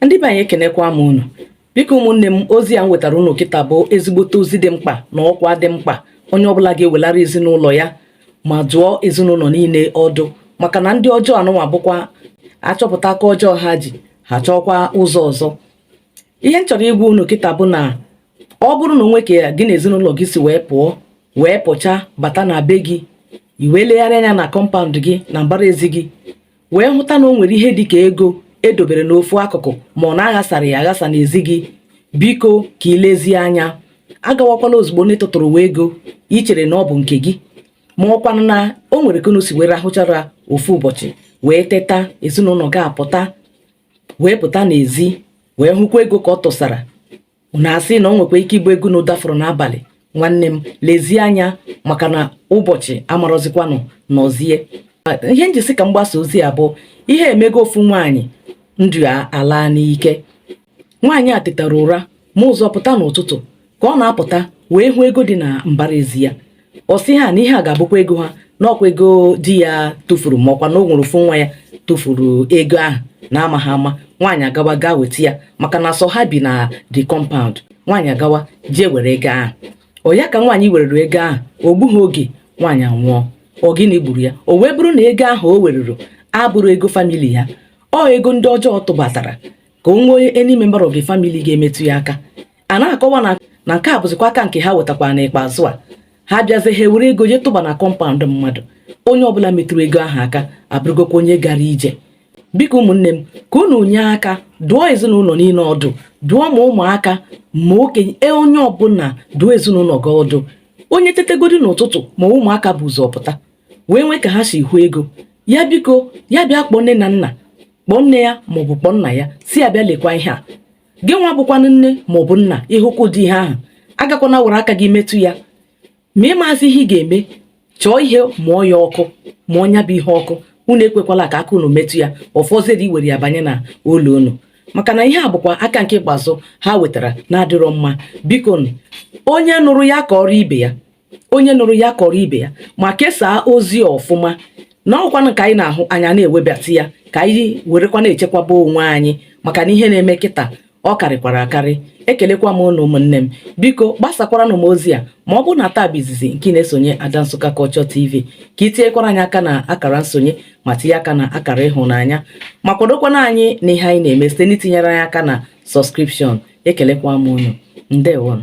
ndị be anyị ekenekwa m unu biko ụmụnne m ozi a m wetara unu kịta bụ ezigbote ozi dị mkpa na ọkwa dị mkpa onye ọbụla ga-ewelara ezinụlọ ya ma dụọ ezinụlọ niile ọdụ maka na ndị ọjọọ anụnwa bụkwa a chọpụta aka ọjọọ ha ji ha chọọkwa ụzọ ọzọ ihe m chọrọ ịgwa unu kịta bụ na ọ bụrụ na o nwee ka gị na ezinụlọ gị si wee pụọ wee pụcha bata na be gị i wee legharị anya na kọmpaụnd gị na mbara ezi gị wee hụta na o nwere ihe dị ka ego e dobere n'ofu akụkụ ma ọ na a ghasara ya aghasa n'ezi gị biko ka ị lezie anya agawakwala ozugbo n'ịtụtụrụwa ego i chere na ọ bụ nke gị ma ọkwanụ na o nwere ka unu si wee rahụchara ofu ụbọchị wee teta ezinụlọ gị apụta wee pụta n'ezi wee hụkwa ego ka ọ tụsara unu asị na o nwekwa ike ịbụ ego unu dafuru n'abalị nwanne m lezie anya maka na ụbọchị amarọzikwanụ nọzie ihe m ji sị ka m gbasaa ozi a bụ ihe emego ofu nwaanyị ndụ ya alaa n'ike nwaanyị a tetara ụra ma ụzọ pụta n'ụtụtụ ka ọ na-apụta wee hụ ego dị na mbara ezi ya ọ sị ha na ihe a ga-abụkwa ego ha na ọ kwa ego di ya tụfuru ma ọkwa na o nwere ofu nwa ya tụfuru ego ahụ n'amaghị ama nwaanyị agawa gaa weta ya maka na sọ ha bi na the compound nwaanyị agawa jee were ego ahụ ọ ya ka nwaanyị werere ego ahụ o gbughị oge nwaanyị anwụọ ọ gịnị gburu ya o wee bụrụ na ego ahụ o weruru abụrọ ego famili ya ọ ego ndị ọjọọ tụbatara ka o nwee any member of the family ga-emetụ ya aka a na-akọwa na na nke a bụzikwa aka nke ha wetakwara n'ikpeazụ a ha bịazie ha ewere ego jee tụba na kọmpaụnd mmadụ onye ọbụla metụrụ ego ahụ aka abụrụgokwa onye gara ije biko ụmụnne m ka unu nye aka dụọ ezinụlọ niile ọdụ dụọ ma ụmụaka ma okenye e onye ọbụla dụọ ezinụlọ gị ọdụ onye tetagodi n'ụtụtụ ma ụmụaka bu ụzọ pụta wee nwee ka ha si hụ ego ya biko ya bịa kpọọ nne na nna kpọọ nne ya maọbụ kpọọ nna ya sị ya bịa lekwa ihe a gị nwa bụkwanụ nne ma ọ bụ nna ị hụkwa ụdị ihe ahụ agakwana were aka gị metụ ya ma ị mazi ihe ị ga-eme chọọ ihe mụọ ya ọkụ mụnye ya bụ ihe ọkụ unu ekwekwala ka aka unu metụ ya ọ fọziri iwere ya banye na ụlọ unu maka na ihe a bụkwa aka nke ikpeazụ ha wetara na-adịrọ mma biko onye nụrụ ya kọọrọ ibe ya onye nụrụ ya kọọrọ ibe ya ma kesaa ozi ọfụma na ọkwanụ ka anyị na-ahụ anyị na-ewebata ya ka anyị werekwa na-echekwaba onwe anyị maka na ihe na-eme kịta ọ karịkwara akarị ekelekwa m unu ụmụnne m biko gbasakwaranụ m ozi a ma ọ bụ na taa bụ izizi nke ị na-esonye Ada Nsụka Culture TV ka i tinyekwara anyị aka na akara nsonye ma tinye aka na akara ịhụnanya ma kwadokwanụ anyị na ihe anyị na-eme site n'itinyere anyị aka na sọskripshọn ekelekwa m unu ndewonụ